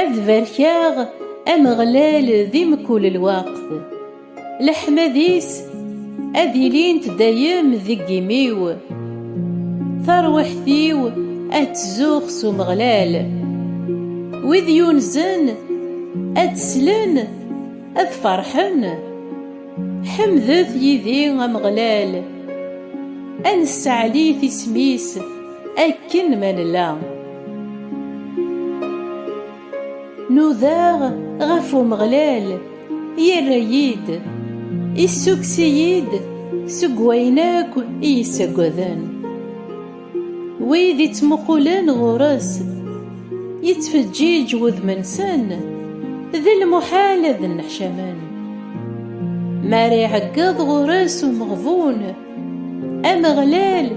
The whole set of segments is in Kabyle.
Ad barkeɣ Ameɣlal di mkul lweqt, leḥmad-is ad ilint dayem deg imi-w, tarwiḥt-iw ad tzuxx s Umeɣlal, wid yunzen ad t-slen ad ferḥen, ḥemdet yid-i Ameɣlal, ad nesseɛlit isem-is. Akken ma nella Nudaɣ ɣef Umeɣlal Yerra-yi-d Issukkes-iyi-d Seg wayen akk i yi-ssaggaden Wid ittmuqulen ɣur-s Yettfeǧǧiǧ wudem-nsen D lmuḥal ad nneḥcamen M'ara iɛeggeḍ ɣur-s umeɣbun Ameɣlal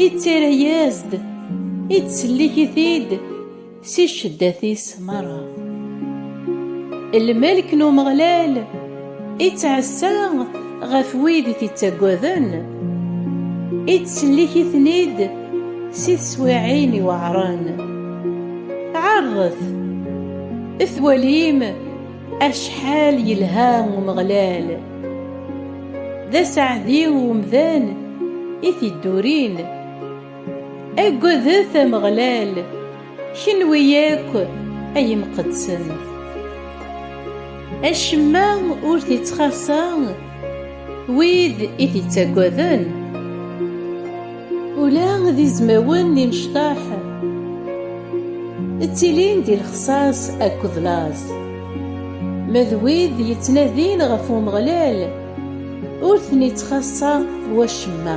ittarra-yas-d, ittsellik-it-id si cceddat-is merra. Lmelk n Umeɣlal ittɛassa ɣef wid i t-ittaggaden, ittsellik-iten-id si teswiɛin iweɛṛen. Ɛerḍet, twalim! Acḥal yelha Umeɣlal! D aseɛdi i umdan i tiddurin. Aggadet Ameɣlal, kenwi akk ay imqeddsen! Acemma ur t-ittxaṣṣa. Wid i t-ittaggaden, ula d izmawen n imecṭaḥ, ttilin di lexṣaṣ akked laẓ. Ma d wid yettnadin ɣef Umeɣlal, ur ten-ittxaṣṣa wacemma.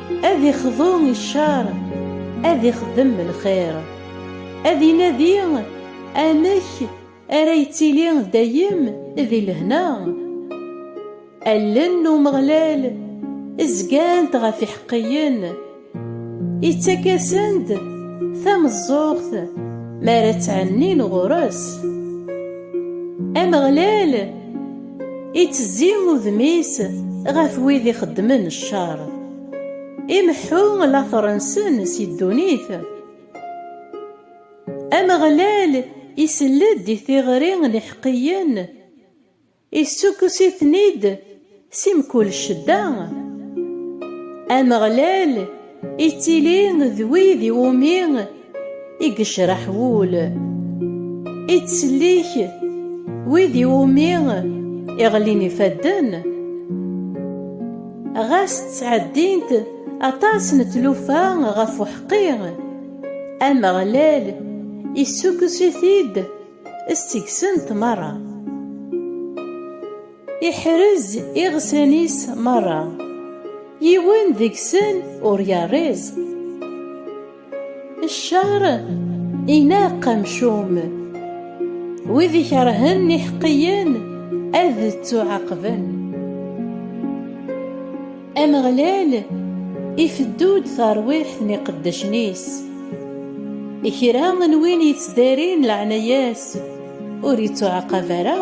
Ad ixḍu i ccer, ad ixdem lxir, ad inadi amek ara yettili dayem di lehna. Allen n Umeɣlal zgant ɣef iḥeqqiyen, ittak-asen-d tameẓẓuɣt mi ara ttɛennin ɣur-s. Ameɣlal. Ittezzi udem-is ɣef wid ixeddmen ccer, imeḥḥu later-nsen si ddunit. Ameɣlal isell-d i tiɣri n iḥeqqiyen, issukkes-iten-id si mkul ccedda. Ameɣlal Ittili d wid i wumi i yecreḥ wul, ittsellik wid i wumi i ɣlin ifadden, ɣas ttɛeddint aṭas n tlufa ɣef uḥeqqi, Ameɣlal issukkes-it-id s tegsent merra. Iḥrez iɣsan-is merra, yiwen deg-sen ur yerriẓ. Ccer ineqq amcum, wid ikerhen iḥeqqiyen ad ttuɛaqben. Ameɣlal ifeddu-d tarwiḥt n iqeddacen-is. I kra n win yettdarin leɛnaya-s ur ittuɛaqab ara.